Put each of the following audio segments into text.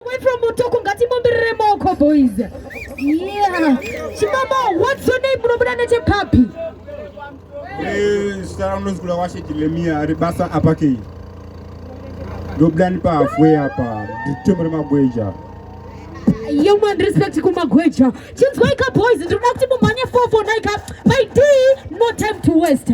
Away from Mutoko ngatimbomberere maoko boys. Yeah. Chimama, what's your name? Munobuda nechepapi? Eh, zita rangu ndinzi Kulawashe Jeremia ari basa apa kei. Ndobuda ndi pahalfway apa. Nditembo remagweja. Young man respect kumagweja. Chinzwaika boys, ndinoda kuti mumhanye 449 ka. My D, no time to waste.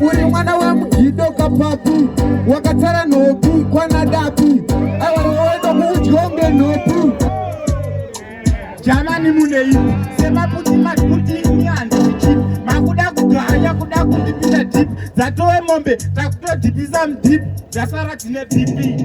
uri mwana wemugido kapapi wakatsara nhopi kwanadapi aiwaoenda kuudyo ngenhopi jamani munei semaputi makuti makuda kugaya kuda kundipisa dip dzatowe mombe takutodipisa mudip dzasara dzine pipi